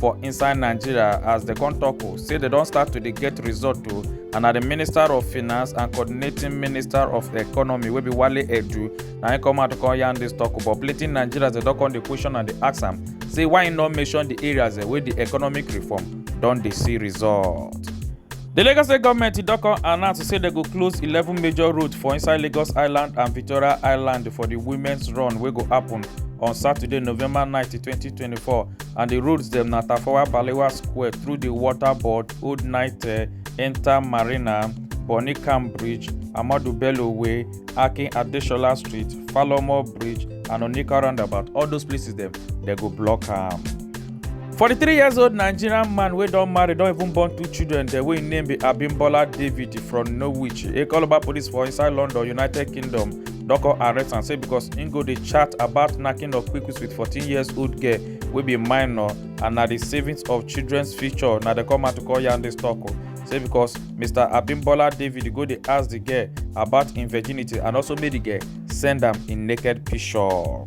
for inside nigeria as dem come tok o say dem don start to dey get result o and na di minister of finance and coordinating minister of economy wey be wale edu na im come out to come yarn dis tok o but plenty nigerians dem don come dey question and dey ask am say why im no mention di areas wey di economic reform don dey see result. di lagos state goment don come announce say dem go close eleven major roads for inside lagos island and victoria island for di women's run wey go happun on saturday november nineteen twenty twenty four. and di roads dem na tafawa balewa square through di water board old naite enta marina bonny camp bridge amadu bello way akin adesola street falomo bridge and onika roundabout all those places dem dem go block am. 43 years old nigerian man wey don marry don even born two children dem wey im name be abimbola david from norwich ekoloba police for inside london united kingdom Doko arrest am say because im go dey chat about knacking of kwikwiks with 14 years old girl wey be minor and na di savings of children's future na dem come out to call yarn dis tok o say because mr abimbola david go dey ask di girl about im virginity and also make di girl send am im naked picture.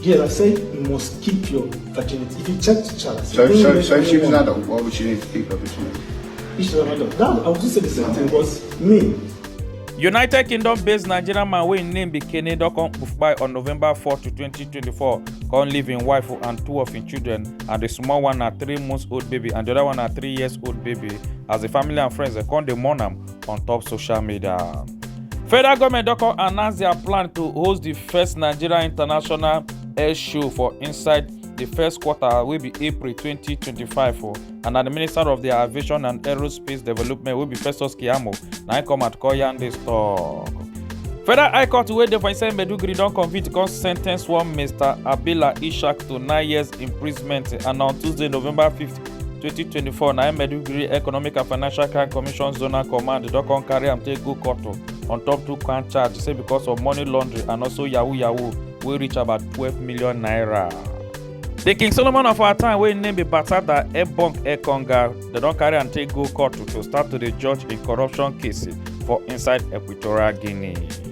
Yes, I said you must keep your virginity. If you check the chart, so, so, so if she was an adult, why would she need to keep her virginity? If she's an adult, that, I would just say the same thing because me, united kingdom based nigerian man wey im name be kene don come kpai on november 4 to 2024 come leave im wife and two of im children and di small one na three months old baby and di oda one na three years old baby as di family and friends dem come dey mourn am on top social media. Federal government don come announce their plan to host the first Nigeria International Air Show for inside the first quarter wey be April 2025 for and na the Minister of the Aviation and Aerospace Development wey be Festus Keyamo na im come out call yarn this talk. Federal High Court wey dey for inside Maiduguri don convict come sentence one Mr. Abila Ishak to nine years imprisonment and on Tuesday, November 5th, 2024 na im maiduguri economic and financial crime commission zonal command don come carry am take go court on top two count charge say because of money laundering and also yahoo yahoo wey reach about 12 million naira. The King Solomon of our time, wey name be Batada Ebong Ekonga, they don carry am take go court to start to dey judge im corruption case for inside Equatorial Guinea.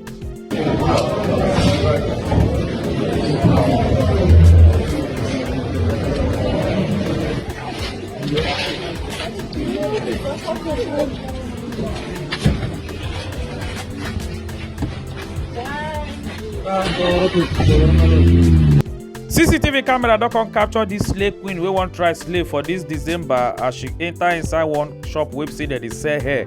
cctv camera don come capture dis slay queen wey wan try slay for dis december as she enta inside one shop wey be say dem dey sell hair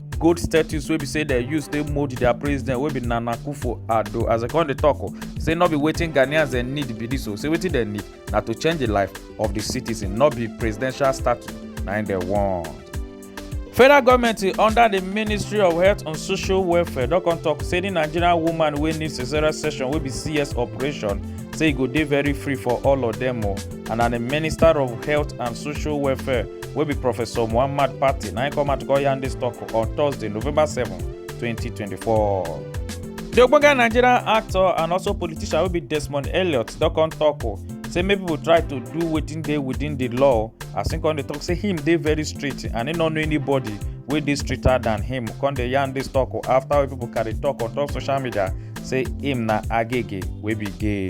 gold statues wey be say dem use take mold their president wey be nana akufo addo as dem come dey talk o say no be wetin ghanaians dem need be this o say wetin dem need na to change the life of the citizen no be presidential statue na im dem want. federal goment under di ministry of health and social welfare don come tok say di nigerian woman wey need caesarean section wey be cs operation say e go dey very free for all of dem o. and na the minister of health and social welfare wey be professor muhammad patti na im come out go yarn dis tok on thursday november 7 2024. di ogbonge nigerian actor and also politician wey be desmond elliot don come tok o say make pipo try to do wetin dey within di law as im come dey tok say him dey very strict and im no know anybody wey dey stricter than him come dey yarn dis tok o afta wey pipo carry tok on top social media say im na agege wey be gay.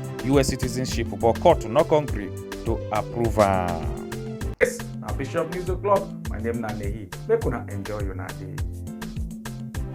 us citizenship but court no come gree to approve am. yes na bishop news o'clock my name na nehi make una enjoy una day.